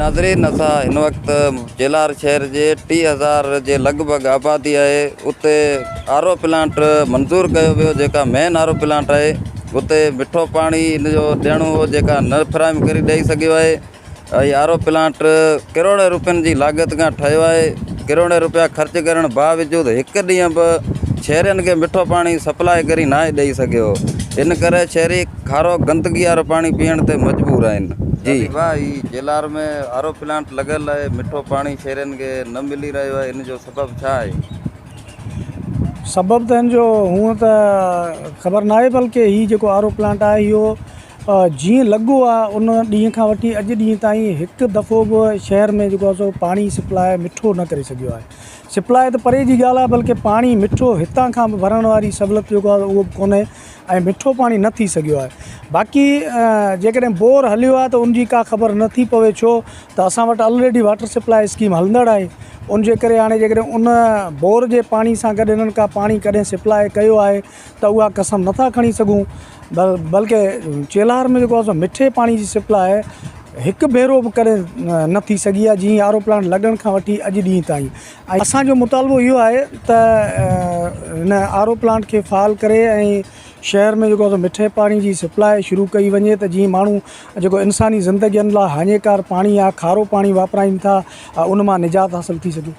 ناظرين اسان هن وقت جيلار شهر جي ٽي هزار جي لڳ ڀڳ آبادي آهي اتي آر او پلانٽ منظور ڪيو ويو جيڪا مين آر او پلانٽ آهي اتي مٺو پاڻي ان جو ڏيڻو هو جيڪا نه فراهم ڪري ڏئي سگهيو آهي هي آر او پلانٽ ڪروڙين روپين جي لاڳت کان ٺهيو آهي، ڪروڙين رپيا خرچ ڪرڻ باوجود هڪ ڏينهن به شهرين کي مٺو پاڻي سپلاء ڪري ناهي ڏئي سگهيو، ان ڪري شهري کارو گندگي وارو پاڻي پيئڻ تي مجبور آهن. جي. واهه هي جيلار ۾ آر او پلانٽ لڳل آهي، مٺو پاڻي شهرين کي نه ملي رهيو آهي، ان جو سبب ڇا آهي؟ سبب ته هن جو هونئن ته خبر ناهي بلڪه هي جيڪو آر او پلانٽ آهي اهو جيئن لڳو آ ان ڏينهن کان وٺي اڄ ڏينهن تائين هڪ دفعو به شهر ۾ جيڪو آ سو پاڻي سپلاء مٺو نه ڪري سگهيو آهي سپلاء ته پري جي ڳالهه آ بلڪه پاڻي مٺو هتان کان به ڀرڻ واري سهولت جيڪو آ اهو به ڪونهي ۽ مٺو پاڻي نه ٿي سگهيو آهي باقي جيڪڏهن بور هليو آ ته ان جي ڪا خبر نه ٿي پوي ڇو ته اسان وٽ الريڊي واٽر سپلاء اسڪيم هلندڙ آهي ان جي ڪري هاڻي جيڪڏهن ان بور جي پاڻي سان گڏ انهن ڪا پاڻي ڪڏهن سپلاء ڪيو آهي ته اها قسم نه ٿا کڻي سگهون بلڪ چيلهار ۾ جيڪو اسان مٺي پاڻي جي سپلاء هڪ ڀيرو به ڪڏهن نه ٿي سگهي آهي جي آر او پلانٽ لڳڻ کان وٺي اڄ ڏينهن تائين ۽ اسان جو مطالبو اهو آهي ته هن آر او پلانٽ کي فعال ڪري ۽ شهر ۾ جيڪو مٺي پاڻي جي سپلاء شروع ڪئي وڃي ته جي ماڻهو جيڪو انساني زندگين لاء هاڃيڪار پاڻي آهي کارو پاڻي واپرائين ٿا ان مان نجات حاصل ٿي سگهي